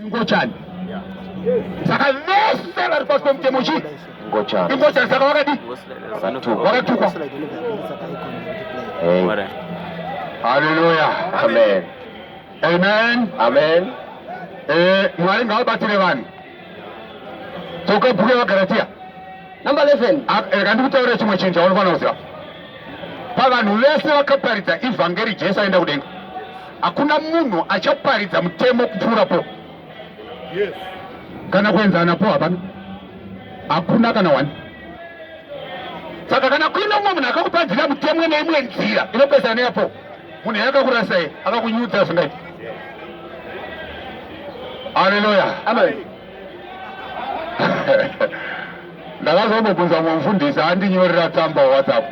Ngochani. Saka vese vari pasi pemutemo chii? Ngochani. Ingochani saka wakadi? Wakatukwa. Hey. Hallelujah. Amen. Amen. Amen. Eh, mwari ngavabatsire vanhu. Toka bhuku yaVaGaratia. Number 11. Ah, eh, rega ndikutaurira chimwe chinhu chaunofanira kuziva. Pavanhu vese vakaparidza evhangeri Jesu aenda kudenga. Hakuna munhu achaparidza mutemo kupfuura po yes. kana kuenzana po hapana, hakuna kana wani. Saka kana kuine umwe munhu akakuparidza mutemo neimwe nzira inopesana neyapo munhu yakakurasai akakunyudza zvingaiti. Haleluya, amen. ndakazongobvunza mumfundisi andinyorera tsamba whatsapp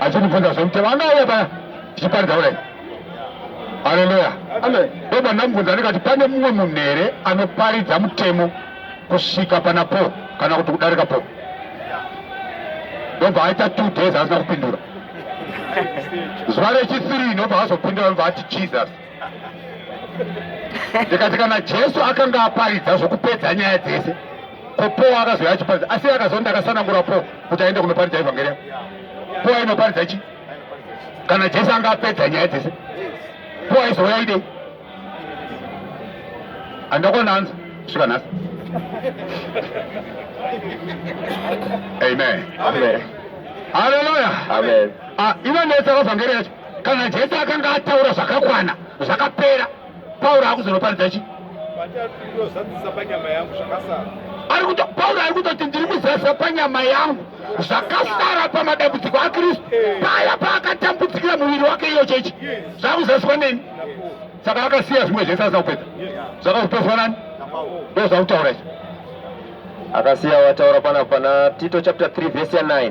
achindibvunza zvomutema anauya paya tichiparidza kudai haleluya ndoba ndamubvunza ndikati pane mumwe munhu here anoparidza mutemo kusvika pana po kana kuti kudarika po ndobva aita two days asina kupindura zuva rechithree ndobva azopindura ndobva ati jesus ndikati kana jesu akanga aparidza zvokupedza nyaya dzese ko paul akazouya achiparidza asi akazonda akasanangura paul kuti aende kunoparidza evhangeri yako paul ainoparidza chi kana jesu anga apedza nyaya dzese paul aizouya idei andakona hanzi svika nhasi amen haleluya ah, ivo ndetsaka vhangeri yacho Kana Jesu akanga ataura zvakakwana zvakapera, Pauro akuzonoparidza chi? Pauro ari kutoti ndiri kuzadzisa panyama yangu zvakasara pamadambudziko aKristu paya paakatambutsikira muviri wake iyo chechi zvakuzadziswa neni saka vakasiya zvimwe zvese asina kupedza zvakazopedzwa nani ndo zvakutaura izvo akasiya wataura pana pana tito chapter 3 vhesi ya 9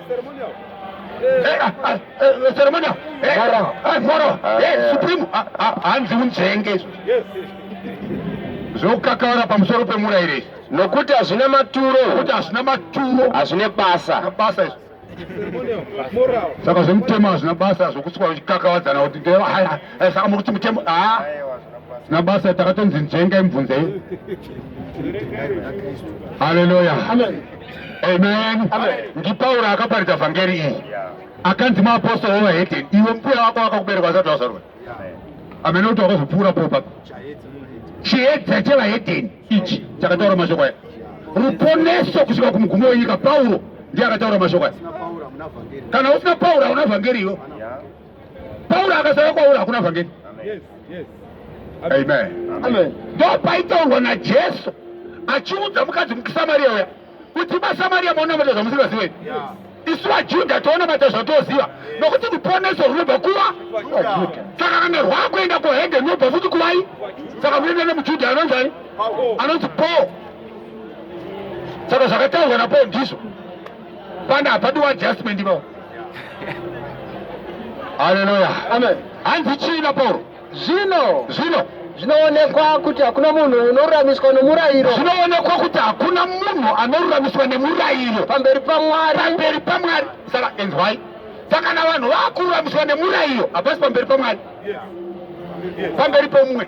hanzi unzvenge zvokukakavara pamusoro pemurayirei nokuti hazvina maturo nokuti hazvina maturo hazvine basa basa izvo saka zvemutemo hazvina basa zvokusikwa uchikakavadzana kuti saka muri kuti mutemo haa zvina basa takatonzi njenga imubvunzei haleluya Amen. NdiPauro akaparidza vhangeri iyi akanzi maapostoro wevahedheni iwe mbuya wako wakakubereka asati wazvarwa amene kuti wakazopfuura popa chiedza chevahedheni ichi chakataura mashoko aya ruponeso kusvika kumugumo wenyika pauro ndiye akataura mashoko aya kana usina pauro hauna vhangeri iyo Pauro akasauya kwauri hakuna vhangeri. Amen. Ndopaitaurwa naJesu achiudza mukadzi mukiSamaria uya kuti maSamaria maonamata zvamusingazive. Isu vaJudha toonamata zvatoziva nokuti ruponeso runobva kuva saka kana rwakuenda kuhedhe runobva futi kuvai saka kuenda nemuJudha anonzani anonzi Paul saka zvakataurwa naPaul ndizvo Pana hapadiwa adjustment ipapo. Haleluya. Amen. Hanzi chii Pauro? Zvino. Zvino. Zvinoonekwa kuti hakuna munhu unoruramiswa nomurayiro. Zvinoonekwa kuti hakuna munhu anoruramiswa nemurayiro. Pamberi paMwari. Pamberi paMwari. Saka enzwai. Saka na vanhu vakururamiswa nemurayiro hapasi pamberi paMwari. Pamberi pomumwe.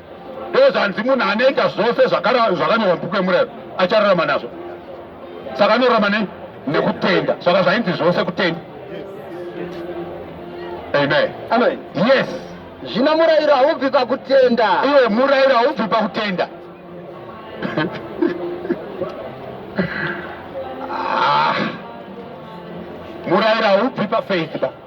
ndozvanzi munhu anoita zvose zvakanyorwa mubhuku yemurayiro achararama nazvo saka anorarama nei nekutenda saka zvainzi zvose kutenda amen amen yes zvino murayiro haubvi pakutenda iwe murayiro haubvi pakutenda ah. murayiro haubvi pafaith ba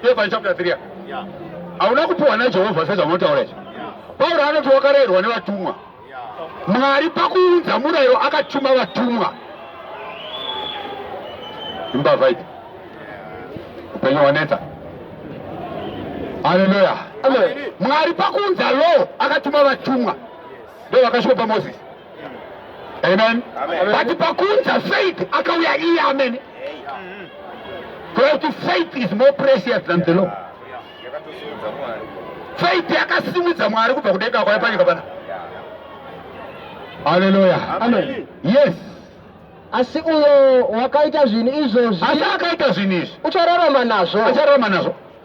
Filipi chapter 3 hauna kupiwa naJehovha sezvamunotaura izvi. Pauro anoti wakarayirwa nevatumwa. Mwari pakuunza murayiro akatuma vatumwa. Imbavha idzi. Upenyu hwanetsa. Haleluya. Mwari pakuunza law akatuma vatumwa. Ndio vakasvika paMoses. Amen. Amen. But pakunza faith akauya iye amene. Because faith is more precious than the law. Faith yakasimudza Mwari kubva kudenga kwaya panyika pana. Hallelujah. Amen. Yes. asi uyo wakaita zvinhu izvozvi asi akaita zvinhu izvi uchararama nazvo uchararama nazvo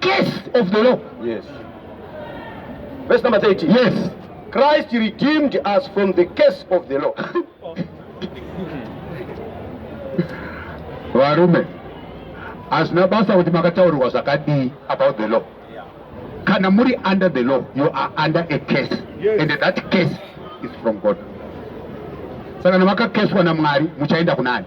case of the law. Yes. Verse number 30. Yes. Christ redeemed us from the case of the law. Varume, hazvina basa kuti makataurirwa zvakadii about the law. Kana muri under the law, you are under a case. Yes. And that case is from God. Saka kana makakeswa naMwari, muchaenda kunani?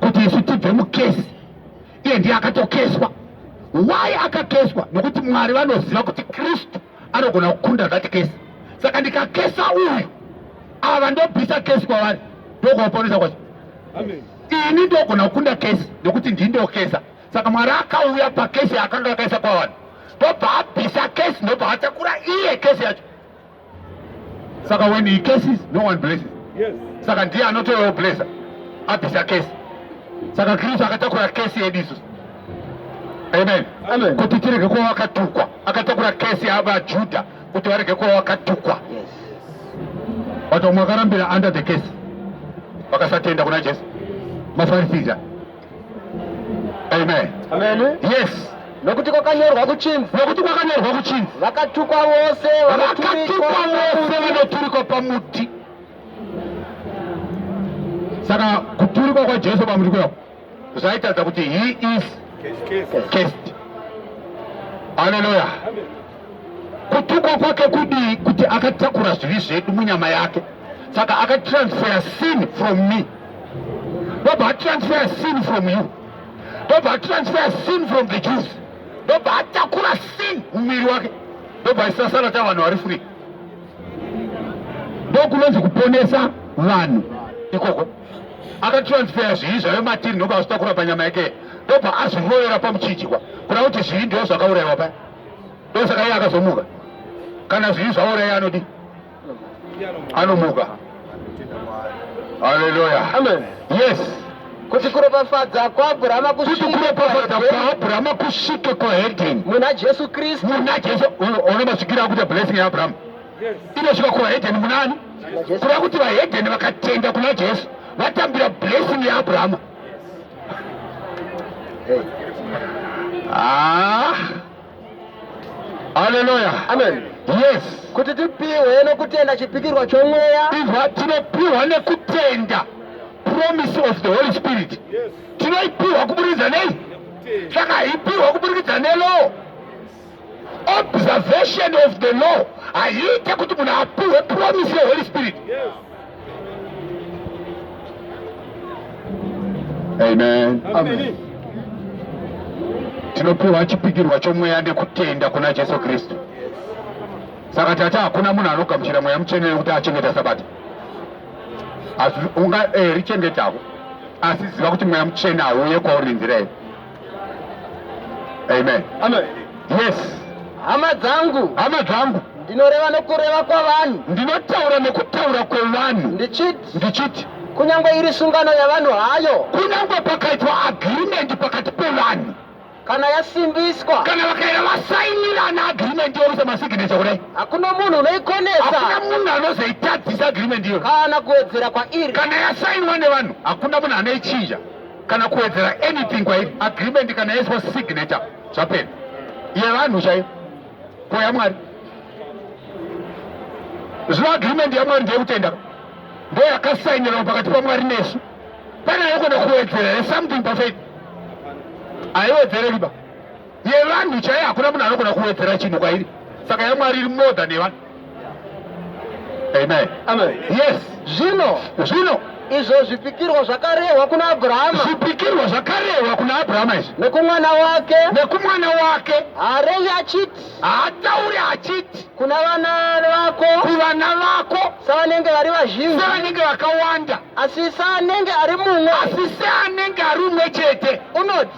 kuti isu tibve mukesi iye ndiye akatokeswa why akakeswa nokuti mwari vanoziva kuti kristu anogona kukunda that kesi saka ndikakesa uyu ava ndobvisa kesi kwavari ndokuvaponesa kwacho ini ndogona kukunda kesi nokuti ndii ndokesa saka mwari akauya pakesi yaakanga akaisa kwavanhu ndobva abvisa kesi ndobva atakura iye kesi yacho Saka when he curses, no one blesses. Yes. Saka ndiye anotovewo blesser abvisa kesi. Saka Kristu akatakura kesi yedu isusu. Amen. Amen. Kuti tirege kuva vakatukwa. Akatakura kesi yavaJudha kuti varege kuva vakatukwa. Yes. But vamwe vakarambira under the case vakasatenda kuna Jesu. Mafarisiza. Amen. Amen. Yes. Nokuti kwakanyorwa kuchinzi. Nokuti kwakanyorwa kuchinzi. Vakatukwa vose vakatukwa vose vanoturikwa pamuti. Saka kuturikwa kwaJesu pamuti kuya zvaitaridza kuti he is cursed. Hallelujah. Kutukwa kwake kudii kuti akatakura zvivi zvedu munyama yake. Saka akatransfer sin from me. ndobva atransfera sin from you ndobva atransfera sin from the jews ndobva atakura sin mumiri wake ndobva isasara ta vanhu vari free ndokunonzi kuponesa vanhu ikoko akatransfera zvii zvave matiri ndobva azvitakura panyama yake ndobva azvirovera pamuchinjikwa kuda kuti zvii ndo zvakaurayiwa paya ndosaka iye akazomuka kana zvii zvauraya anodii anomuka haleluya amen yes kuti kuropafadza kwaabhurahama kuti kuropafadza kwaabhurahama kusvike kuhedheni muna jesu kristu muna jesu ona masvikiro akuita blessing yaabrahama inosvika kuhedheni munani kuda kuti vahedheni vakatenda kuna jesu vatambira blessing yaabrahama ah Haleluya. Amen. Yes. Kuti tipiwe nokutenda chipikirwa chomweya. Izwa tinopiwa nekutenda promise of the Holy Spirit. Yes. Tinoipiwa kuburikidza nei? Saka haipiwa kuburikidza nelaw. Observation of the law haiite kuti munhu apiwe promise yeHoly Spirit. Yes. Amen. Amen. Tinopiwa chipikirwa chomweya nekutenda kuna Jesu Kristu. Saka tati hakuna munhu anogamuchira mweya mutsvene nekuti achengeta sabata. Asi unga eh, richengetawo asi ziva kuti mweya mutsvene hauye kwauri nenzira iyo. Amen. Amen. Yes. Hama dzangu. Hama dzangu. Ndinoreva nokureva kwavanhu. Ndinotaura nokutaura kwevanhu. Ndichiti. Ndichiti. Kunyangwe iri sungano yavanhu hayo. Kunyangwe pakaitwa agreement pakati pevanhu. Kana yasimbiswa. Kana vakaera vasainirana agreement yokuisa masignature kudai. Hakuna munhu unoikonesa. Hakuna munhu anozoitadzisa agreement iyo. Kana kuwedzera kwairi. Kana yasainwa nevanhu hakuna munhu anoichinja. kana kuwedzera anything kwairi agreement kana yaiswa signature zvapera yevanhu chaiyo ko yamwari zvino agreement yamwari ndeyekutenda ndo yakasainirwa pakati pamwari nesu pane yekuda kuwedzera something pafaith haiwedzere riba yevanhu chaiyo hakuna munhu anogona kuwedzera chinhu kwairi saka yamwari iri more than yevanhu amen amen yes zvino zvino izvo zvipikirwa zvakarehwa kuna abrahama zvipikirwa zvakarehwa kuna abrahama izvi nekumwana wake nekumwana wake haarevi achiti haatauri achiti kuna vana vako kuvana vako savanenge vari vazhinji sevanenge vakawanda asi saanenge ari mumwe asi seanenge ari umwe chete unoti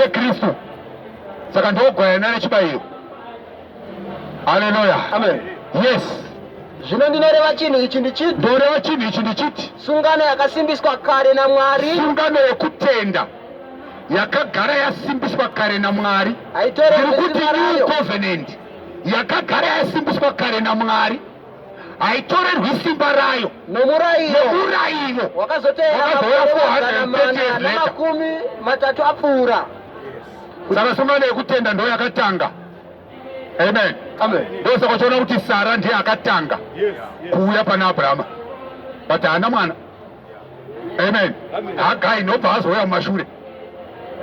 yekristu saka ndogwayana nechibayiro haleluya amen yes zvino ndinoreva chinhu ichi ndichiti ndoreva chinhu ichi ndichiti sungano yakasimbiswa kare namwari sungano yekutenda yakagara yasimbiswa kare namwari haitoreekuti new covenant yakagara yasimbiswa kare namwari haitorerwi simba rayo nomurayiro wakazotevera makumi matatu apfuura saka sungano yekutenda ndo yakatanga amen ndosaka uchiona kuti sara ndiye akatanga kuuya pana abrahama but haana mwana amen hagai ndobva azouya mumashure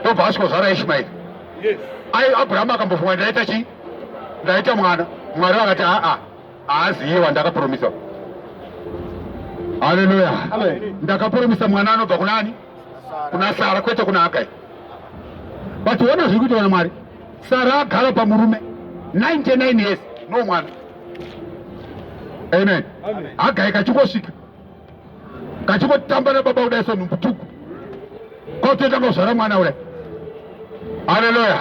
ndobva asvikozvara ishimaeri abrahama akambofunga ndaita chii ndaita mwana mwari vakati aa haaziye wandakapromisa haleluya ndakapromisa mwana anobva kunani kuna sara kwete kuna hagai but ona zviri kuita vana mwari sara agara pamurume 99 years no mwana amen hagai kachingosvika ngachingotamba nababa kudai senhumbu tuku kwautotanga kuzvara mwana kudai haleluya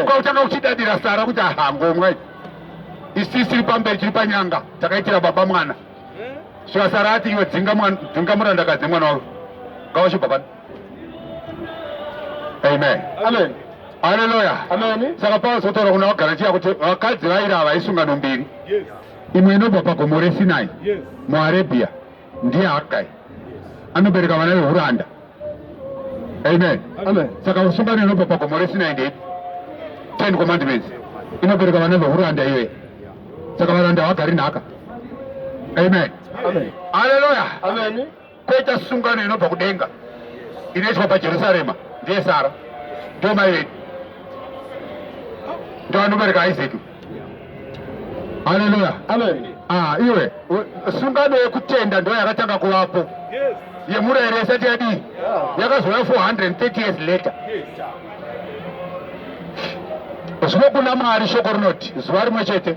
kwautanga kuchidadira sara kuti ahangomwai isisi iri pamberi chiri panyanga takaitira baba mwana svika sara ati iwe dzinga murandakadzi mwana wavo ngawachibva pano amen amen haleluya saka paulo sotaura kuna vagaratia kuti vakadzi vaira havaisunga nombiri imwe inobva pagomo resinai muarabia ndiye hagai anobereka vana vehuranda amen saka usungano inobva pagomo resinai ndei ten commandments inobereka vana vehuranda iyoye saka varanda havagari nhaka amen aleluya Koita sungano inobva kudenga inoitwa paJerusarema ndiye Sara, ndiyo mai vedu, ndiyo anobereka Isaac. Haleluya, amen. Ah, iwe sungano yekutenda ndiyo yakatanga kuvapo yemurayiro isati yadii, yakazouya 430 years later. Zvino kuna Mwari shoko rinoti zuva rimwe chete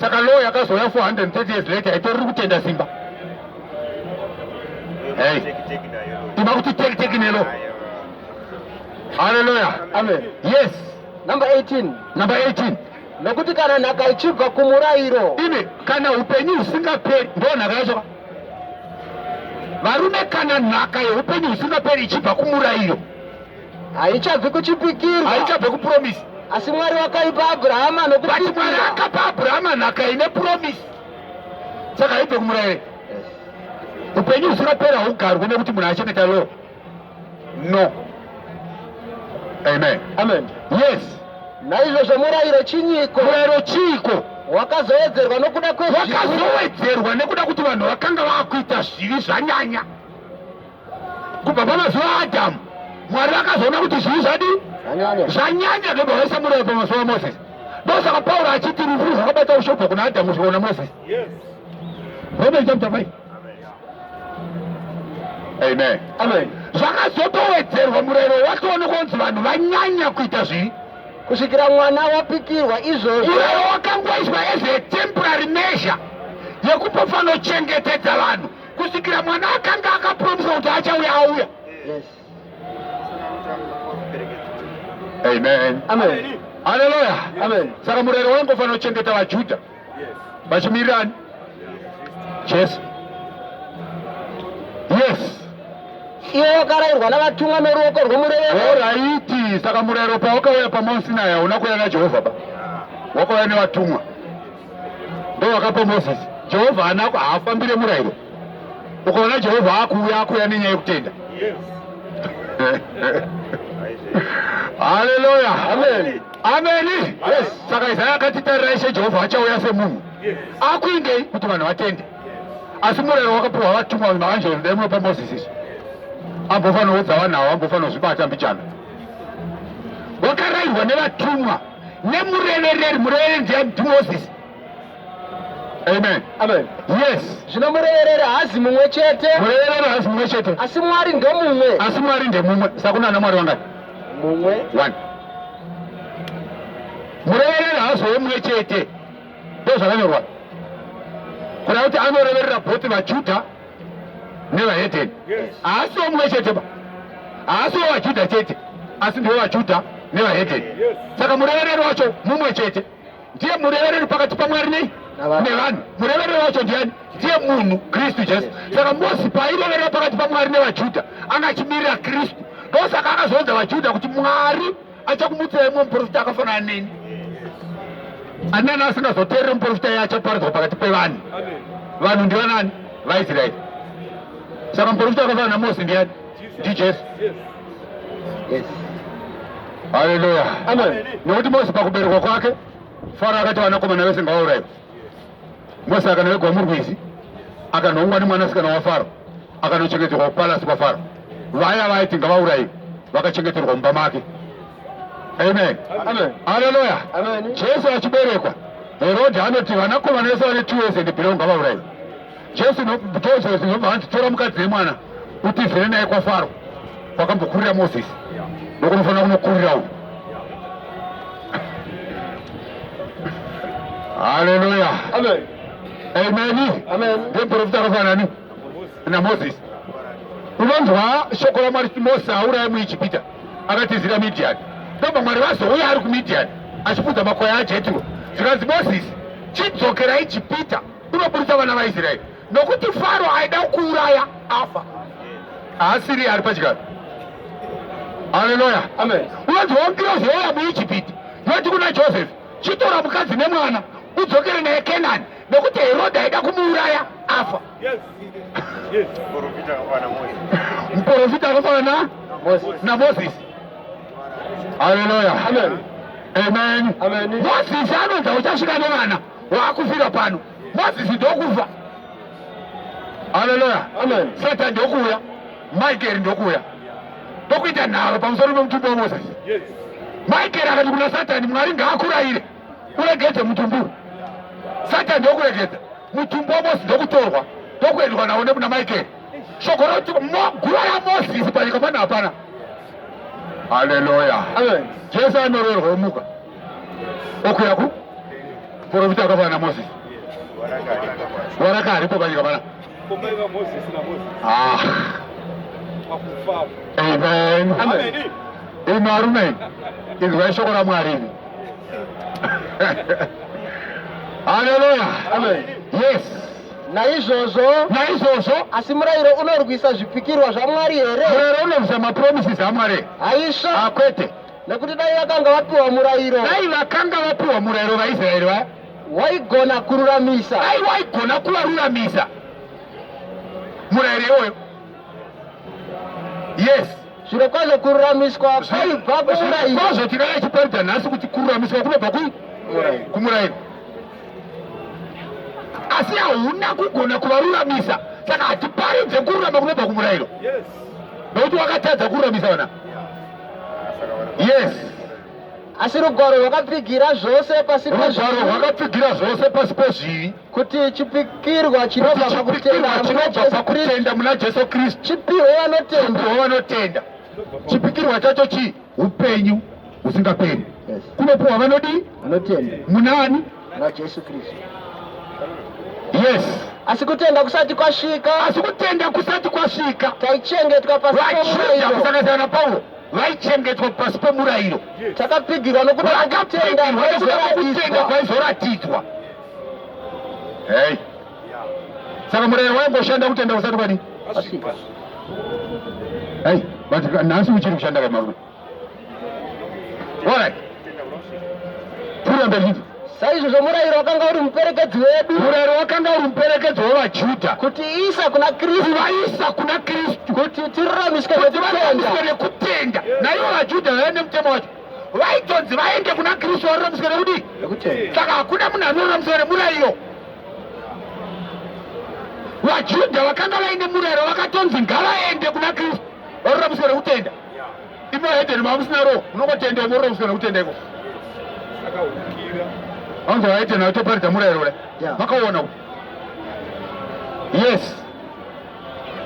saka law yakazouya 430 years later itori ri kutenda simba ida kuti teki teki nelo haleluya amen yes number 18 number 18 nokuti kana nhaka ichibva kumurayiro ine kana upenyu husingaperi ndo nhaka yacho varume kana nhaka yeupenyu husingaperi ichibva kumurayiro haichabvi kuchipikirwa haichabve kupromisi asi mwari wakaipa abrahama but mwari nokupikira akapa abrahama nhaka ine promisi saka haibve kumurayiro upenyu husinopera haugarwi nekuti munhu achengeta law no amen amen yes naizvozvo murayiro chinyiko murayiro chiiko wakazowedzerwa nokuda kwezvivi wakazowedzerwa nekuda kuti vanhu vakanga vakuita zvivi zvanyanya kubva pamazuva aadhamu mwari vakazoona kuti zvii zvadi zvanyanya ndobva vaisa muroi pamazuva amosesi ndosaka pauro achiti rufu zvakabata ushobva kuna adhamu zvikaona mosesi romeri chapter 5 amen amen zvakazotowedzerwa murayiro watoone kunzi vanhu vanyanya kuita zvii kusvikira mwana wapikirwa izvozvo urayiro wakangoiswa as a temporary measure yekupofanochengetedza vanhu kusvikira mwana akanga akapromisa kuti achauya auya amen amen haleluya amen saka murero wangu ufanira kuchengeta vajudha vachimirirani jesu yes iye wakarairwa navatumwa noruoko rwomurevero oraiti saka murero pawakauya pamosinaya hauna kuuya najehovha ba wakauya nevatumwa ndovakapa mozisi jehovha anako haafambire murayiro ukaona jehovha akuuya akuuya nenyaya yekutenda haleluya ameni saka isaya akati tarirai she jehovha achauya semunhu akuindei kuti vanhu vatende asi murayiro wakapiwa vatumwa maanjeri dai munopa mozisi izvi ambofanira kudza vanhu avo ambofanira kuzvibata mbichana wakarairwa nevatumwa nemurevereri murevereri ndiani ndimozisi Amen. Amen. Yes. Zvino murevereri haazi mumwe chete. Murevereri haazi mumwe chete. Asi Mwari ndemumwe. Asi Mwari ndemumwe. Saka kuna ana Mwari vangani? Mumwe. One. Murevereri haazi wemumwe chete. Ndozvakanyorwa. Kuna kuti anoreverera both vaJudha nevaheteni haasiwo mumwe chete ba haasiwo vajudha chete asi ndiwo vajudha nevaheteni saka murevereri wacho mumwe chete ndiye murevereri pakati pamwari nei nevanhu murevereri wacho ndiani ndiye munhu kristu jesu saka mosi paireverera pakati pamwari nevajudha anga achimirira kristu ndosaka akazoudza vajudha kuti mwari achakumutsa imwe muprofita akafanana neni anani asingazoteereri muprofita iye achaparadzwa pakati pevanhu vanhu ndivanani vaisraeri saka muprofita wakafanana namosi ndiyani ndijesu haleluya nekuti mosi pakuberekwa kwake faro akati vanakomana vese ngawauraiwa Mose akanowegwa murwizi akanhongwa nemwanasikana wafaro akanochengeterwa kupalasi kwafaro vaya vaiti ngavaurayiwe vakachengeterwa mumba make amen aleluya jesu achiberekwa herodhi anoti vanakomana vese vane two years and below ngavaurayiwe Jesu nokudozvo zvinobva hanzi tora mukadzi yemwana utizire naye kwafaro kwakambokurira Moses nokunofanira kunokurira uyu Haleluya Amen Amen ndeprofita akafanani naMoses unonzwa shoko ramwari kuti Moses auraya muIjipita akatizira Midian ndobva mwari vazouya ari kuMidian achipfudza makwai aJetro zvikanzi Moses chidzokerai Jipita unoburitsa vana vaisraeri nokuti faro aida kuuraya afa haasiri ari pachigaro haleluya unonzwa ngirozi yauya muijipiti yoti kuna josefi chitora mukadzi nemwana udzokere naye kenani nokuti herodhi aida kumuuraya afa muprofita akafanana namoses haleluya amen moses anonza uchasvika nevana waakufira pano mozisi ndokufa haleluya satan ndokuuya michael ndokuuya ndokuita nharo pamusoro pemutumbi wamozisi michael akati kuna satani mwari ngaakurayire uregedze mutumbi uyu satani ndokuregedza mutumbi wamosi ndokutorwa ndokuendwa nawo nekuna michael shoko roti guva ramozisi panyika pano hapana haleluya jesu anorerwa omuka okuya ku porofita wakafanana namozisi waraka haripo panyika pana ah. imi arume inzwai shoko ramwari imi haleluya yes naizvozvo naizvozvo asi murayiro unorwisa zvipikirwa zvamwari here murayiro unorwisa mapromises amwari haisva akwete ah, nekuti dai vakanga vapiwa murayiro dai vakanga vapiwa murayiro vaisraeri vaya waigona kururamisa dai waigona kuvaruramisa murayiro iwoyo yes zviro kwazvo kururamiswa kwaibva kumurayiro kwazvo tinaa chiparidza nhasi kuti kururamiswa kunobva kui kumurayiro asi hauna kugona kuvaruramisa saka hatiparidze kururama kunobva kumurayiro nokuti wakatadza kururamisa vana yes asi rugwaro rwakapfigira zvose pasi rugwaro rwakapfigira zvose pasi pezvivi kuti chipikirwa chinobva pakutenda muna jesu kristu chipiwo vanotenda vanotenda chipikirwa chacho chii upenyu husingaperi kunopiwa vanodii munani naJesu Kristu. Yes. Asi kutenda kusati kwasvika. Asi kutenda kusati kwasvika. Taichengetwa pasi pemurayiro. Kusakazana na Paulo vaichengetwa pasi pemurayiro. Takapfigirwa nokuda kwakutenda kutenda kwaizoratidzwa. Hey. Saka murayiro waingoshanda kutenda kusati kwadi. Asika. Hey, but nhasi uchiri kushanda kamarume. Alright. Pfuura mberi. Saizvozvo murayiro wakanga uri muperekedzi wedu. Murayiro wakanga uri muperekedzi wevaJudha. Kuti isa kuna Kristu. Kuvaisa kuna Kristu. Kuti tiruramiswe nekutenda. Naivo vaJudha vaive nemutemo wacho vaitonzi vaende kuna kristu varuramiswe nekudii saka hakuna munhu anoruramiswa nemurayiro vajudha vakanga vaine murayiro vakatonzi ngavaende kuna kristu varuramiswe nekutenda Ipo Eden mamusina roho munongotenda ivorora musina kutenda iko. Vanzo vaite nayo toparidza murayiro ule. Makaona uko. Yes.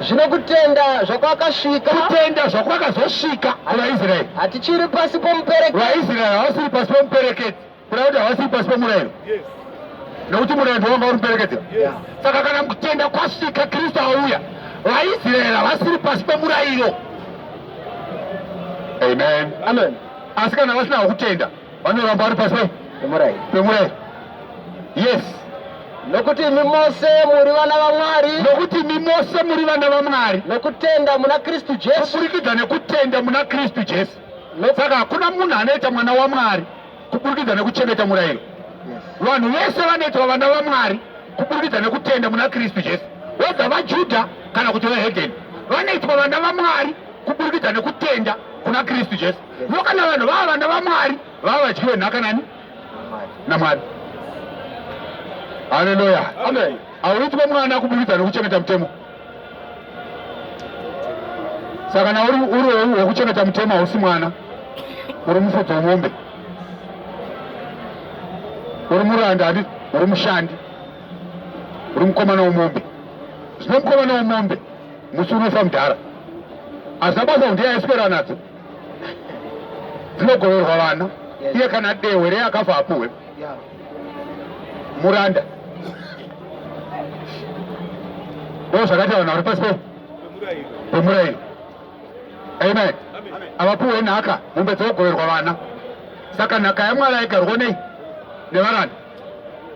Zvino kutenda zvakwakasvika. Kutenda zvakwakazosvika kuvaIsraeri. Hatichiri pasi pomuperekedzi. VaIsraeri havasiri pasi pomuperekedzi. Kuda kuti havasi pasi pemurayiro. Yes. Nokuti murayiro ndovanga uri muperekedzero. Yes. Saka kana kutenda kwasvika Kristu auya, vaIsraeri havasiri pasi pemurayiro. Amen. Amen. Asi kana vasina kutenda, vanoramba vari pasi pemurayiro. Pemurayiro. Yes. nokuti imi mose muri vana vamwari nokuti imi mose muri vana vamwari nokutenda muna kristu jesu kuburikidza nekutenda muna kristu jesu Saka hakuna munhu anoita mwana waMwari kuburikidza nekuchengeta murayiro. Vanhu vese vanoitwa vana vaMwari kuburikidza nekutenda muna Kristu Jesu, wedza vaJudha kana kuti vehedheni vanoitwa vana vaMwari kuburikidza nekutenda kuna Kristu Jesu. Ndo kana vanhu vava vana vaMwari vava vadyi venhaka nani naMwari. Haleluya, amen. Hauitwe mwana kuburikidza nekuchengeta mutemo. saka kana uri uri wekuchengeta mutemo hausi mwana uri mufudzi wemombe uri muranda adi uri mushandi uri mukomana wemombe zvino mukomana wemombe musi unofa mudhara hazvina basa kuti yaiswera nadzo dzinogoverwa vana iye kana dehwe rei akafa apuhwe muranda ndoo zvakataura nauri pasi pemurayiro amen havapuwe nhaka mombe dzogoverwa vana saka nhaka yamwari aigarwa nei nevaranda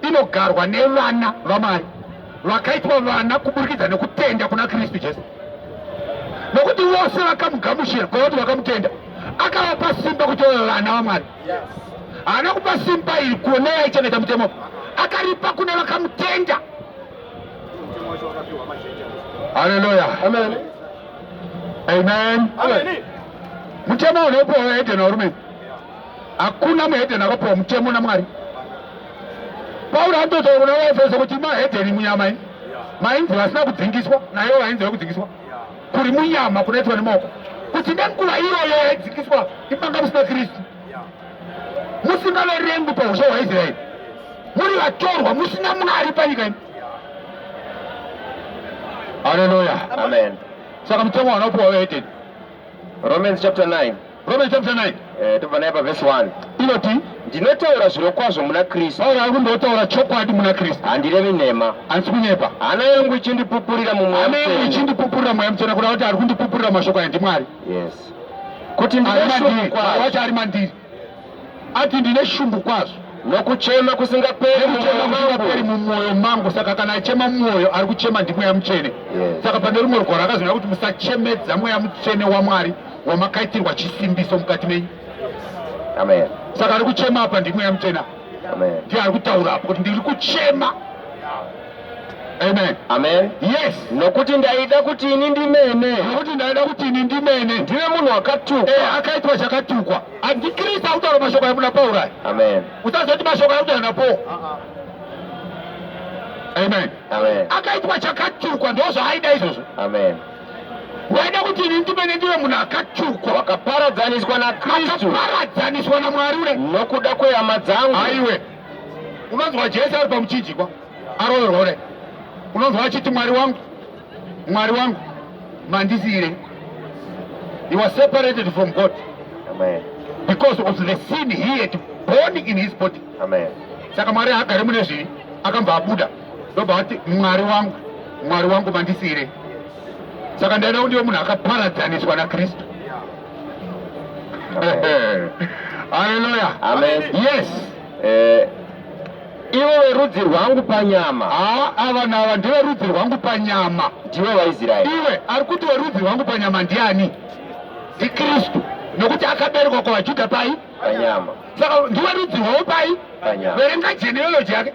inogarwa nevana vamwari vakaitwa vana kuburikidza nekutenda kuna kristu jesu nokuti vose vakamugamushira kwavati vakamutenda akavapa simba kuti vave vana vamwari haana kupa simba iri kuone yaichengeta mutemo akaripa kune vakamutenda haleluya amen amen mutemo unopiwa wehedheni warume hakuna muhedheni akapiwa mutemo namwari pauro anototaura kuna vaefeso kuti mahedheni munyama ini mainzi vasina kudzingiswa nayo vainzi vekudzingiswa yeah. kuri munyama kunoitwa nemaoko kuti nenguva iyoyo yaidzikiswa imanga musina kristu musingaverengi pausha hwaisraeri muri vatorwa musina mwari panyika ino haleluya amen saka mutemo wanaopiwa weeteni romans chapter 9 Romans chapter 9. Eh, tobva naye paverse 1. Inoti ndinotaura zvirokwazvo muna Kristu. Pauro ari kundotaura chokwadi muna Kristu. Handirevi nhema. Handisi kunyepa. Hana yangu ichindipupurira mumweya mutsvene. Hana yangu ichindipupurira mweya mutsvene kuda kuti ari kundipupurira mashoko aya ndiMwari. Yes. Kuti ndinoshukwa. Ari mandiri. Ati ndine shungu kwazvo nokuchema kusingaperi mumwoyo mangu. Saka kana achema mumwoyo ari kuchema ndimweya mutsvene. Saka pane rumwe rugwaro akazvina kuti musachemedza mweya mutsvene waMwari wamakaitirwa chisimbiso mukati menyu. Amen. Saka ari kuchema apa ndimweya mutsvene. Amen. Ndiye ari kutaura apo kuti ndiri kuchema. Amen. Amen. Yes. Nokuti ndaida kuti ini ndimene. Nokuti ndaida kuti ini ndimene. Ndiwe munhu wakatukwa. Eh, akaitwa chakatukwa. Antikristu akutaura mashoko amuna Pauro aya. Amen. Usazoti mashoko akutaura na Paul. Uh-uh. Amen. Amen. Akaitwa chakatukwa ndozvaaida izvozvo. Amen. Waida kuti ini ndimene ndive munhu akatukwa. Wakaparadzaniswa na Kristu. Wakaparadzaniswa na Mwari ure. Nokuda kwehama dzangu. Aiwe. Unonzwa Jesu ari pamuchinjikwa. Aroverwa ure. Unonzwa achiti Mwari wangu. Mwari wangu mandisiire. He was separated from God. Amen. Because of the sin he had born in his body. Amen. Saka Mwari haagare mune zvivi akambva abuda ndobva ati Mwari wangu Mwari wangu mandisiire. Saka ndaida kuti munhu akaparadzaniswa naKristu. Hallelujah. Amen. Yes. eh, ivo verudzi rwangu panyama haa ava nava ndive rudzi rwangu panyama ndiwe vaisraeri iwe ari kuti werudzi rwangu panyama ndiani ndikristu nokuti akaberekwa kwavajudha pai panyama saka ndiwe rudzi rwavo pai panyama verenga genealogy yake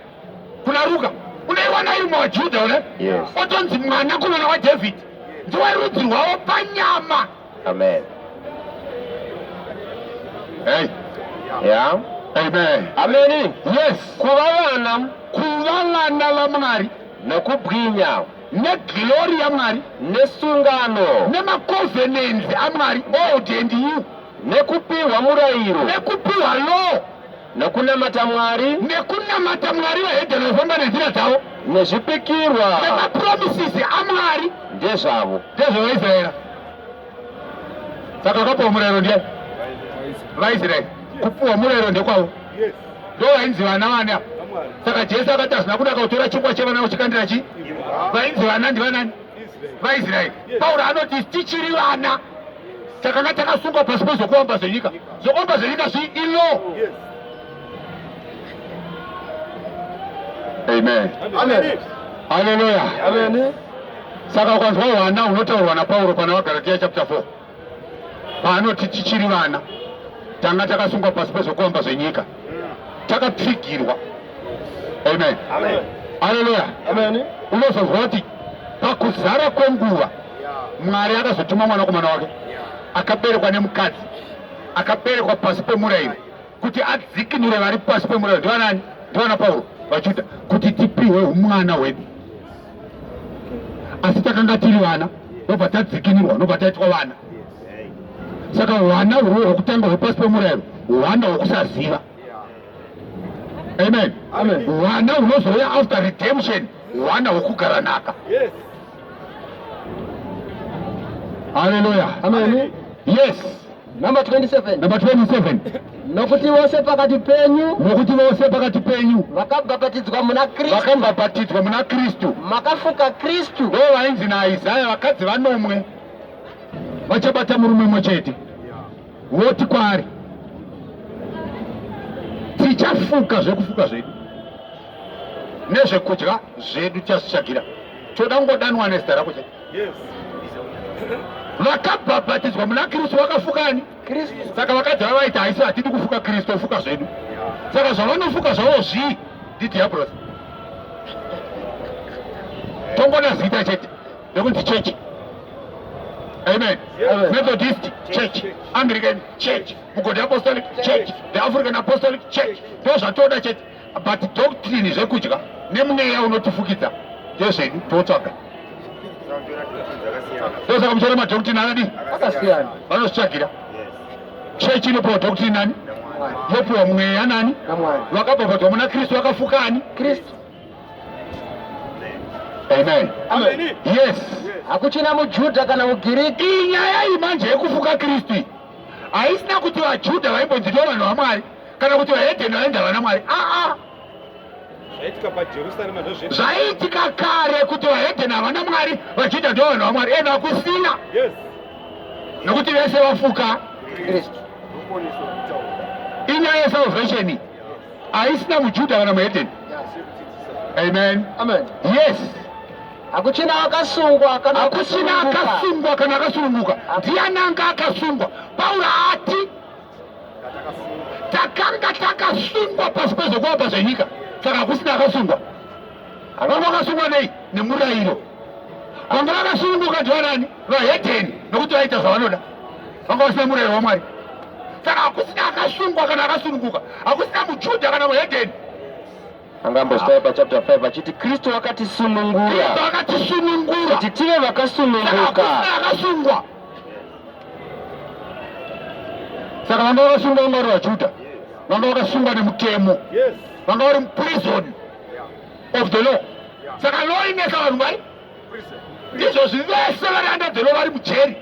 kuna ruka unaiwana iri mwajudha une yes. otonzi mwanakomana wadhavhidhi ndiwe rudzi rwavo panyama Amen. Hey. Yeah. Amen. Amen. Yes. Kuva vana. Kuva vana vaMwari. Nokubwinya. Neglori yaMwari. Nesungano. Nemakovenenzi aMwari. Old and you. Nekupiwa murayiro. Nekupiwa law. Nekunamata Mwari. Nekunamata Mwari vahedheni vanofamba nenzira dzavo. Nezvipikirwa. Nemapromisisi aMwari. Ndezvavo. NdezvevaIsraeri. Saka vakapuwa murayiro ndiani? VaIsraeri. Kupuwa murayiro ndekwavo. Yes. Ndo vainzi vana vani apa. Saka Jesu akati hazvina kunaka kutora chingwa chevana uchikandira chi? Vainzi vana ndivanani? vaisraeri pauro anoti tichiri vana takanga takasungwa pasi pezvokuomba zvenyika zvokuomba zvenyika zvi ilo amen haleluya saka ukanzwa hwana hunotaurwa napauro pana vagaratiya chapter 4 paanoti tichiri vana tanga takasungwa pasi pezvokuamba zvenyika takapfigirwa amen aleluya unozonzwa kuti pakuzara kwenguva mwari akazotuma mwanakomana wake akaberekwa nemukadzi akaberekwa pasi pemurayiro kuti adzikinure vari pasi pemurayiro ndivanani ndivana pauro vajuda kuti tipihwe umwana hwedu asi takanga tiri vana nobva tadzikinurwa nobva taitwa vana saka hwana hwo hwokutanga hwepasi pemurayiro hwana hwokusaziva amen hwana hunozouya after redemption hwana hwokugara naka haleluya yes Number 27. Number 27. Nokuti vose pakati penyu. Nokuti vose pakati penyu. Vakabhapatidzwa muna Kristu. Vakabhapatidzwa muna Kristu. Makafuka Kristu. Ndo vainzi naIsaya vakadzi vanomwe. Vachabata murume mwe chete. Voti kwaari. Tichafuka zvekufuka zvedu. Nezvekudya zvedu chasishagira. Choda ngodanwa nezita rako chete. vakabhabhatidzwa muna kristu vakafukani saka vakadzi vava vaiti haisi hatidi kufuka kristu ofuka zvedu saka zvavanofuka zvavo zvii ndidhiabros tongona zita chete rekunzi chechi Amen. Amen. Methodist Church, Anglican Church, Mugodi Apostolic Church, the African Apostolic Church. Those are told church. but doctrine zvekudya nemweya unotifukidza ndezvedu totsvaga ndosaka muchona madoctrine anadi akasiyana vanozvitsvagira church inopiwa doctrine nani yopiwa mweya nani vakabhabhadzwa muna kristu vakafuka ani kristu amen yes hakuchina mujudha kana mugiriki iyi nyaya iyi manje yekufuka kristu haisina kuti vajudha vaimbonzi ndo vanhu vamwari kana kuti vahedheni vainzi havana mwari aa zvaiitika kare kuti vahedheni havana mwari vajudha ndo vanhu vamwari ena kusina nokuti vese vafuka kristu inyaya yesalvation haisina mujudha kana muhedheni amen amen yes hakuchina akasungwa hakuchina akasungwa kana akasununguka ndiani anga akasungwa pauro ati takanga takasungwa pasi pezvokuomba zvenyika saka hakusina akasungwa akanga akasungwa nei nemurayiro vanga vakasununguka ndivanani vahedheni nokuti vaita zvavanoda vanga vasina murayiro wamwari saka hakusina akasungwa kana akasununguka hakusina mujudha kana muhedheni angambosvaya pachapter 5 achiti kristu wakatisunungura akatisunungura kuti tive vakasununguka akasungwa saka vanga vakasungwa vanga vari vajuda vanga vakasungwa nemutemo vanga vari muprison of the law saka law inesa vanhu vari ndizvozvi vese vari under the law vari mujeri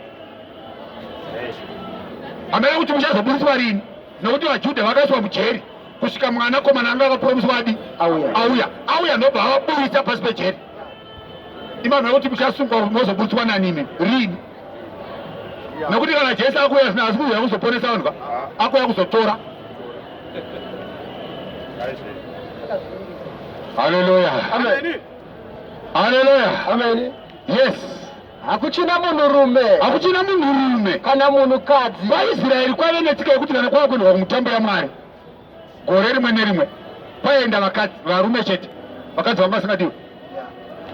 hamene kuti muchazoburitswa rini nokuti vajuda vakaiswa mujeri kusvika mwana komana anga akapuromiswa adi auya auya ndobva avaburitsa pasi pejeri imanhu akuti muchasungwa mozoburitswa nanimi rini nekuti kana jesu akuuya zvino asi kuuya kuzoponesa vanhu ka akuuya kuzotora haleluya haleluya yes hakuchina munhurume hakuchina munhurume kana munhukadzi vaisraeri kwave netsika yekuti kana kwava kuendwa kumutambo yamwari Gore rimwe nerimwe kwaienda vakadzi varume chete, vakadzi vanga vasingadiwe.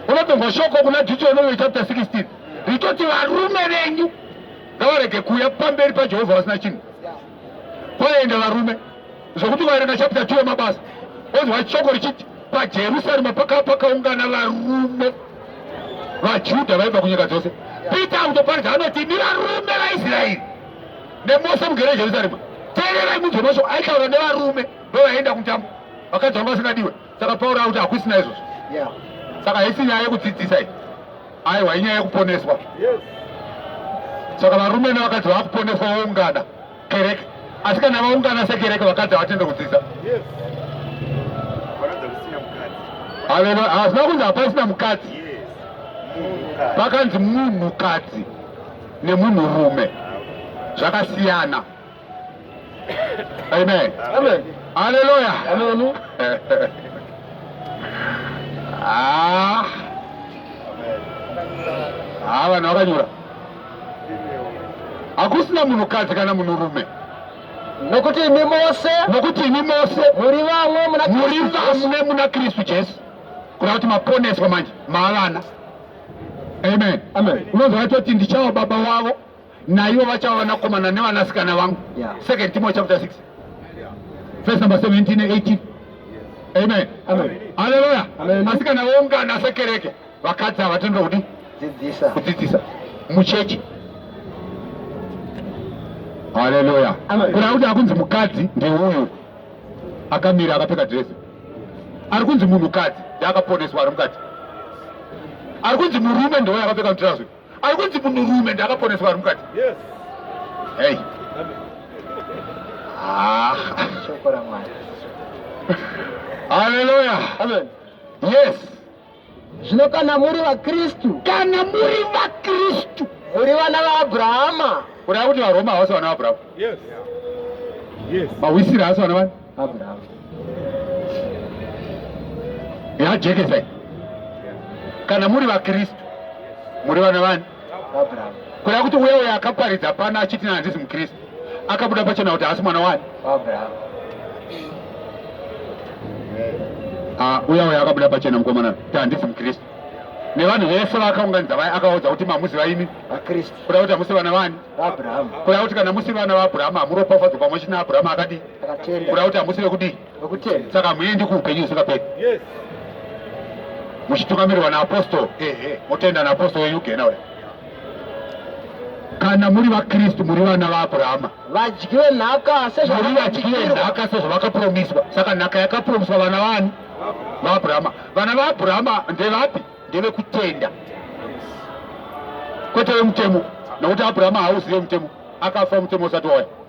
Unotonzwa shoko kuna Deuteronomy chapter 16 richoti varume venyu ngavarege kuuya pamberi paJehovha vasina chinhu. Kwaienda varume zvokuti vaerenga chapter 2 yemabasa onzwa shoko richiti pajerusarema pakava pakaungana varume vajudha vaibva kunyika dzose peter utoparidza anoti ni varume vaisraeri nemose mugere Jerusalema teererai munzwe mashoko aitaura nevarume vevaienda kumutambo vakadzi vanga vasingadiwe saka Pauro akuti hakusina izvozvo saka haisi nyaya yekudzidzisa iyi aiwa inyaya yekuponeswa saka varume nevakadzi vakuponeswa voungana kereke asi kana vaungana sekereke vakadzi havatende kudzidza hazvina kunzi hapasina mukadzi pakanzi munhukadzi nemunhurume zvakasiyana. Amen. Amen. Haleluya. Amen. Ah. Ah, vanhu vakanyura. Hakusina munhukadzi kana munhurume. Nokuti imi mose. Nokuti imi mose. Muri vamwe muna Kristu Jesu. Muri vamwe muna Kristu Jesu. Kuna kuti maponeswa manje. Mavana. Amen. Amen. Unonzwa atoti ndichava baba wavo naivo vachava vanakomana nevanasikana vangu. Yeah. Second Timothy chapter 6. Yeah. Verse number 17 and 18. Amen. Amen. Hallelujah. Amen. Asikana voungana sekereke vakadzi ava tinoda kudi dzidzisa kudzidzisa muchechi. Hallelujah. Amen. Kuna kuti akunzi mukadzi ndiuyu akamira akapfeka dress. ari kunzi munhukadzi ndiakaponeswa ari mukati ari kunzi murume ndiwo yakapfeka mutirazwi ari kunzi munhurume ndiakaponeswa ari mukati hei ah. haleluya yes Zvino kana muri vaKristu, kana muri vaKristu, muri vana vaAbrahama. Kureva kuti vaRoma havasi vana vaAbrahama. Yes. Yes. Mawisira havasi vana vani? Abrahama. Yajekesa. Kana muri vaKristu, muri vana vani? kureva kuti uya uya akaparidza pano achiti handisi mukristu akabuda pachena kuti haasi mwana wani ah, uya uya akabuda pachena mukomana kuti handisi mukristu nevanhu vese vakaunganidza vaya akaudza kuti mamuziva imi vakristu kuda kuti hamusi vana vani abrahamu kuda kuti kana musi vana vaabrahamu hamuropafadzwa pamwe china abrahamu akadii kuda kuti hamusi vekudii Nokutenda. Saka muendi kuupenyu husingaperi. Yes. Muchitungamirirwa naapostoro. Ehe. Motenda naapostoro wenyu kugena uya. Kana muri vaKristu muri vana vaAbrahama. Vadyiwe nhaka sezvavakapiwa. Muri vadyiwe nhaka sezvavakapromiswa. Saka nhaka yakapromiswa vana vani? VaAbrahama. Vana vaAbrahama ndevapi? Ndevekutenda. Kwete vemutemo. Nokuti Abrahama hauzive mutemo. Akafa mutemo usati wauya.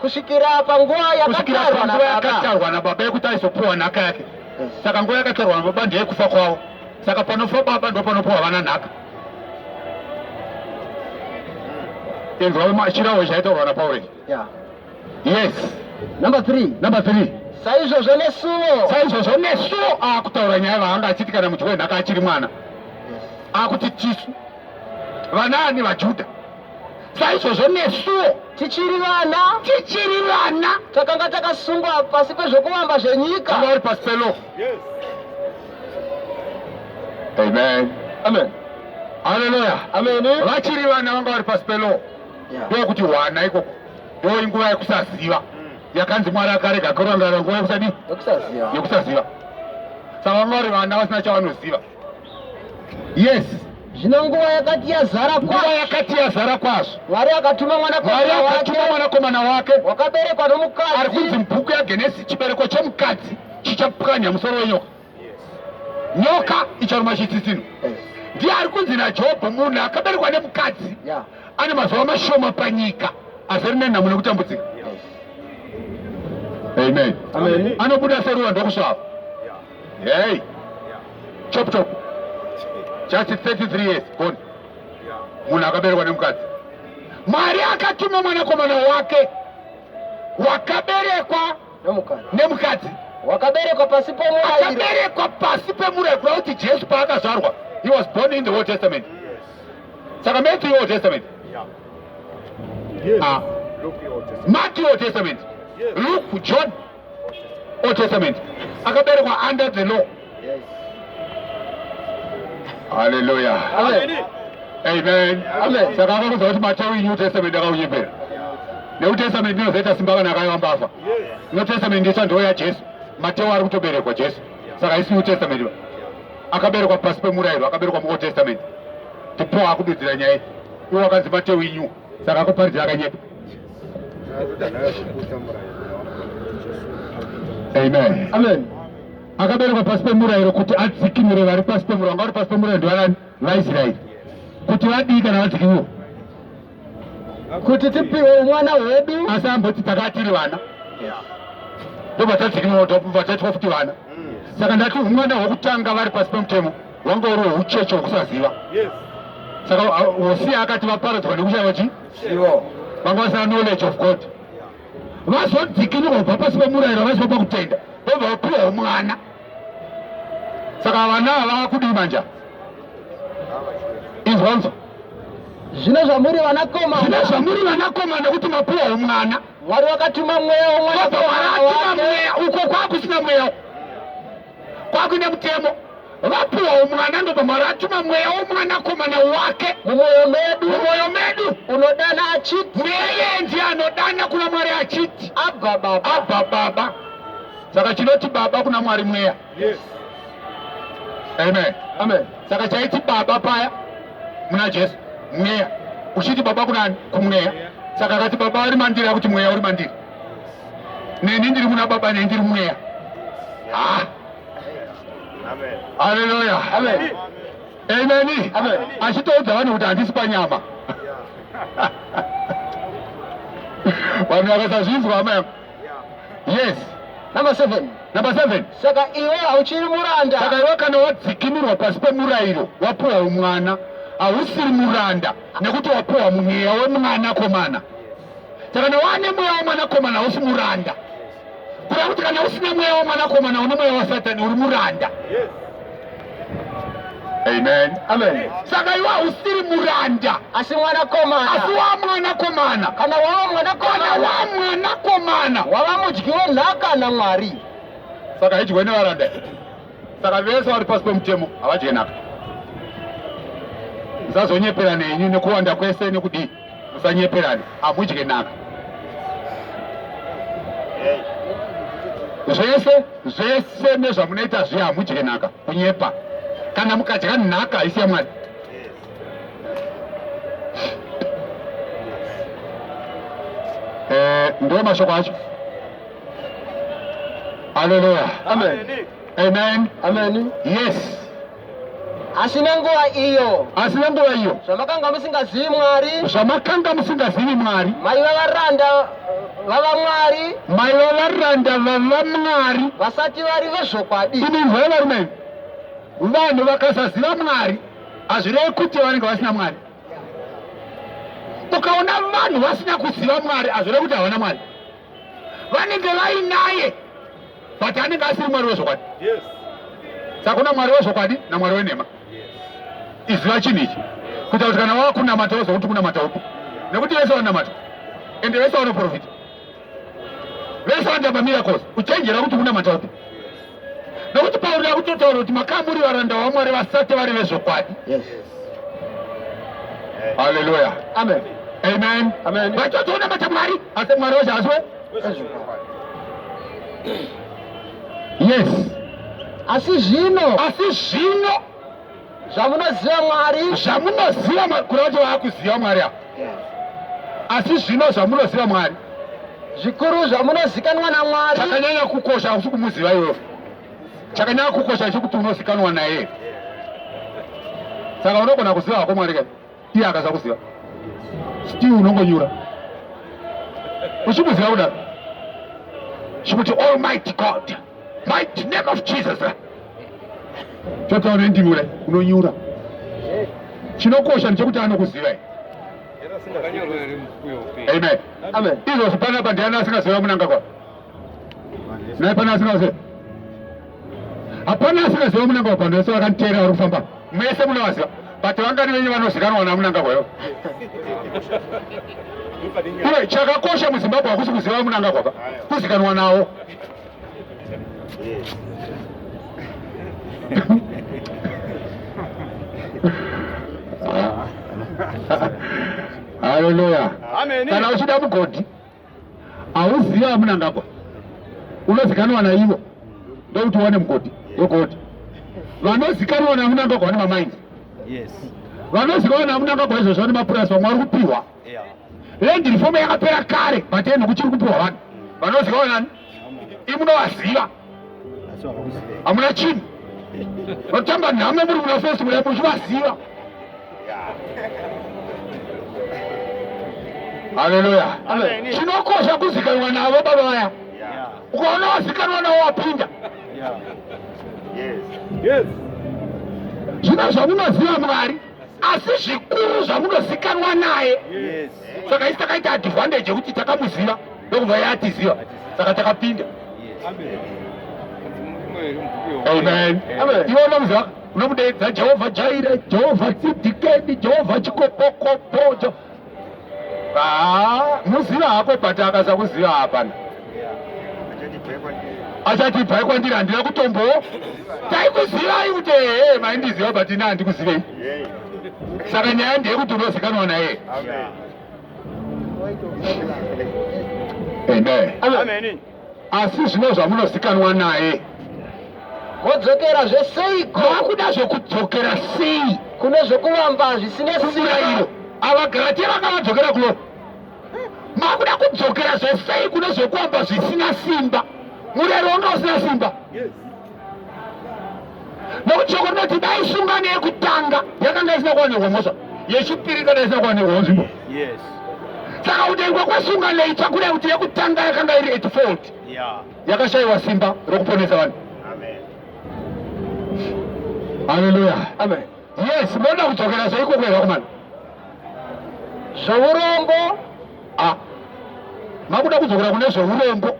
kusvikira panguva yakatarwa nababa yekuti aizopiwa nhaka yake saka nguva yakatarwa nababa ndeyekufa kwavo saka panofa baba ndo panopiwa vana nhaka inzwa chirahwe chaitaurwa napaureki yes number three number three saizvozvo nesuwo saizvozvo nesuwo akutaura nyaya vaanga achiti kana mudyi wenhaka achiri mwana akuti tisu vanaani vajudha saizvozvo nesuwo tichiri vana tichiri vana takanga takasungwa pasi pezvokuvamba zvenyika vari pasi pelo amen amen haleluya amen vachiri vana vanga vari pasi pelo ndokuti wana ikoko ndo inguva yekusaziva yakanzi mwari akarega kurangara nguva yekusadii yekusaziva saka vanga vari vana vasina chavanoziva yes zvino nguva yakati yazara nguva yakati yazara kwazvo mwari akatuma mwanakomana wake wakaberekwa nomukadzi ari kunzi mubhuku yagenesi chibereko chomukadzi chichapwanya musoro wenyoka nyoka icharuma chitsitsino ndiye ari kunzi najobho munhu akaberekwa nemukadzi ane mazuva mashoma panyika asi rine nhamo nekutambudzika amen anobuda seruwa ndokusvava Hey. Chop chop. Just 33 years gone. Munhu akaberekwa nemukadzi. Mwari akatuma mwanakomana wake wakaberekwa nemukadzi. Wakaberekwa pasi pemurayiro. Akaberekwa pasi pemurayiro kuda kuti Jesu paakazvarwa he was born in the Old Testament. Saka Matthew Old Testament. Yeah. Yes. Ah. Luke Old Testament. Matthew Old Testament. Yes. Luke, John Old Testament. Akaberekwa under the law. Yes. Hallelujah. Amen. Amen. Amen. Saka akakuza kuti Mateo New Testament akaunyepera. New Testament ndinozoita simba kana akayamba afa. New Testament ndicha ndiyo yaJesu. Mateo ari kutoberekwa Jesu. Saka haisi New Testament. Akaberekwa pasi pemurayiro, akaberekwa mu Old Testament. Ndipo akududzira nyaya. Iwo akanzi Mateo New. Saka akuparidzira akanyepa. Amen. Amen. Akaberekwa pasi pemurayiro kuti adzikinure vari pasi pemurayiro. Vanga vari pasi pemurayiro ndivanani? VaIsraeri. Kuti vadii kana vadzikinurwa? Kuti tipiwe mwana wedu. Asi amboti takatiri vana. Ndobva tadzikinurwa tobva taitwa kuti vana. Saka ndati umwana hwekutanga vari pasi pemutemo wanga uri hweucheche hwekusaziva. Yes. Saka Hosiya akati vaparadzwa nekushaiwa chii? ivo vanga vasina knowledge of god vazodzikinurwa kubva pasi pemurayiro vaziva pakutenda vobva vapiwawo mwana saka vana vakudii manja izwanzo zvino zvamuri vanakomana zvino zvamuri vanakomana kuti mapiwawo mwana mwari wakatuma mweya womwana uko kwakusina mweya kwakuine mutemo vapuwawo mwana ndobamwari atuma mweya womwanakomana wake mumwoyo medu mumwoyo medu unodana achiti neye ndiye anodana kuna mwari achiti abva baba abva baba saka chinoti baba kuna mwari mweya yes. amen amen saka chaiti baba paya muna jesu mweya uchiti baba kunani kumweya saka akati baba uri mandiri akuti mweya uri mandiri neni ndiri muna baba neni ndiri mweya ah. haleluya ameni achitoudza vanhu kuti handisi panyama vanhu vakasazvinzwa hama yangu yes number seven number seven saka iwe hauchiri muranda saka iwe kana wadzikinurwa pasi pemurayiro wapuwa umwana hausiri muranda nekuti wapuwa mweya wemwana komana saka na wane mweya wemwanakomana hausi muranda kuda kuti kana usina mweya wemwanakomana une mweya wasatani uri muranda amen amen saka iwe hausiri muranda asi mwanakomana asi wa mwanakomana kana wava mwanakomana kana wa mwanakomana wava mudyi wenhaka namwari saka haidyiwe nevaranda saka vese vari pasi pemutemo havadye nhaka musazonyepera nenyu nekuwanda kwese nekudii musanyeperane amudye naka zvese zvese nezvamunoita zvi hamudye nhaka kunyepa kana mukadya nhaka haisi yamwari eh, ndo mashoko acho aleluya amen amen amen yes Asi nenguva iyo. Asi nenguva iyo. Zvamakanga musingazivi Mwari. Zvamakanga musingazivi Mwari. Maiva varanda vava Mwari. Maiva varanda vava Mwari. Vasati vari vezvokwadi. Imi mvura varume. Vanhu vakasaziva Mwari hazvirevi kuti vanenge vasina Mwari. Ukaona vanhu vasina kuziva Mwari hazvirevi kuti havana Mwari. vanenge vainaye but anenge asiri mwari wezvokwadi sakuna mwari wezvokwadi namwari wenhema iziva chinhu ichi kuita kuti kana wakunamata woziva kuti kunamata upi nekuti vese vanamata ende vese vanoprofita vese vanoita mamiracles uchenjera kuti kunamata upi nokuti pauri akutotaura kuti makamuri varanda vamwari vasati vari vezvokwadi haleluya amen amen amen vatotoona mata mwari asi mwari wacho asi yes asi zvino asi zvino zvamunoziva mwari zvamunoziva kuri vacho vaakuziva mwari avo asi zvino zvamunoziva mwari zvikuru zvamunozikanwa namwari chakanyanya kukosha hausi kumuziva iwewe chakanyanya kukosha chekuti unozikanwa naye saka unogona kuziva hako mwari kai iye akasakuziva still unongonyura uchimuziva kudaro chikuti almighty god mighty name of jesus chotaura ndimi kudai unonyura chinokosha ndechekuti anokuzivai amen izvozvo panapa ndiani asingaziva munangagwa Naye pana asikaziva. Hapana asikaziva munanga wapano vese vakaniteera vari kufamba. Mese munovaziva. But vangani venyu vanozikanwa namunanga kwayo. Iwe chakakosha muZimbabwe hakusi kuziva munanga kwaba. Kuzikanwa nawo. Hallelujah. Amen. Kana uchida mugodhi Hauziva vaMunangagwa, unozikanwa naivo ndokuti wane mugodi wegodi. Vanozikanwa naMunangagwa vane mamainzi, vanozikanwa naMunangagwa izvozvo vane mapurasi, vamwe vari kupihwa. Land reform yakapera kare, but ende kuchiri kupihwa vanhu vanozikanwa nani? imunovaziva hamuna chinhu vatamba nhamo muri muna fesi muya muchivaziva haleluya chinokosha kuzikanwa navo baba vaya ukaona wazikanwa navo wapinda zvino zvamunoziva mwari asi zvikuru zvamunozikanwa naye saka isi takaita advantage yekuti takamuziva ndokubva ye atiziva saka takapinda amen iwe unomuziva unomudeedza jehovha jaire jehovha tsidhikeni jehovha chikopokopo Haa, muziva hako but akaza kuziva hapana. Achati bhai kwandiri handina kutombo. Taikuzivai kuti ehe maindiziva but ini handikuzivei. Saka nyaya ndeyekuti unozikanwa naye. Amen. Amen. asi zvino zvamunozikanwa naye modzokera zveseiko makuda zvekudzokera sei kune zvekuvamba zvisine sirairo avagaratia vanga vadzokera kuno makuda kudzokera zvesei kune zvekuvamba zvisina simba murero wanga usina simba nokuti shoko rinoti dai sungano yekutanga yakanga isina kuwanikwa mhosva yechipiri kana isina kuwanikwa nzvimbo saka kutengwa kwesungano itsva kuda kuti yekutanga yakanga iri at fault yakashayiwa simba rokuponesa vanhu haleluya yes moda kudzokera so ikoko yerakumana zveurombo ah, makuda kudzokera kune zveurombo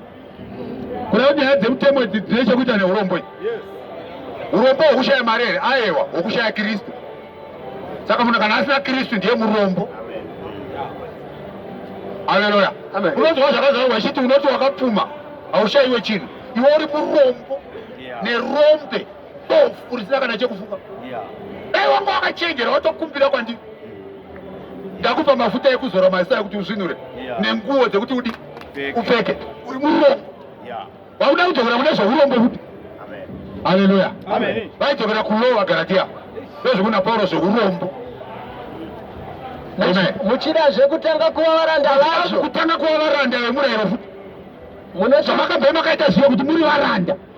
Kuda kuti nyaya dzemutemo idzi dzine chekuita neurombwe. Urombo hwekushaya mari here? Aewa, hwekushaya Kristu. Saka munhu kana asina Kristu ndiye murombo. Haleluya. Unonzwa zvakazara wachiti unoti wakapfuma haushaiwe chinhu. Iwe uri murombo nerombe. bofu urisina kana chekufuka dai wanga wakachenjera watokumbira kwandiri ndakupa mafuta ekuzora mazita ekuti uzvinure nenguwo dzekuti udi upfeke uri murombo vauda kudzokera kune zveurombo kuti haleluya vaidzokera kulowa garatia ndozvekuna pauro zveurombo muchida zvekutanga kuva varanda vazvo kutanga kuva varanda vemurayiro futi zvamakabve makaita ziva kuti muri varanda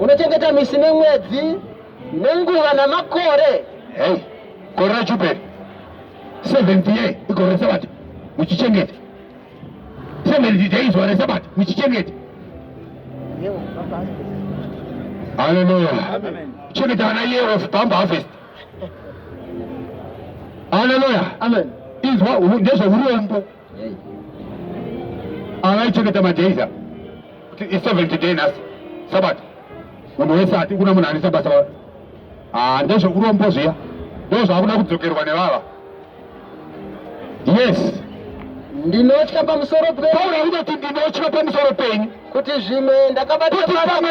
unochengeta misi nemwedzi nenguva namakore hey gore rejubheri 70 year igore resabata muchichengeta 70 days zuva resabata muchichengeta haleluya chengeta vana year of bump harvest haleluya amen izwa ndezveurombo Anaichengeta majaiza kuti i 70 day nhasi sabata munhu wese ati kuna munhu anisa basa vava ah, ndezvekurombo zviya ndo zvakuda kudzokerwa nevava yes ndinotya pamusoro peunakuda kuti ndinotya pamusoro penyu kuti zvimwe ndakabataaamwe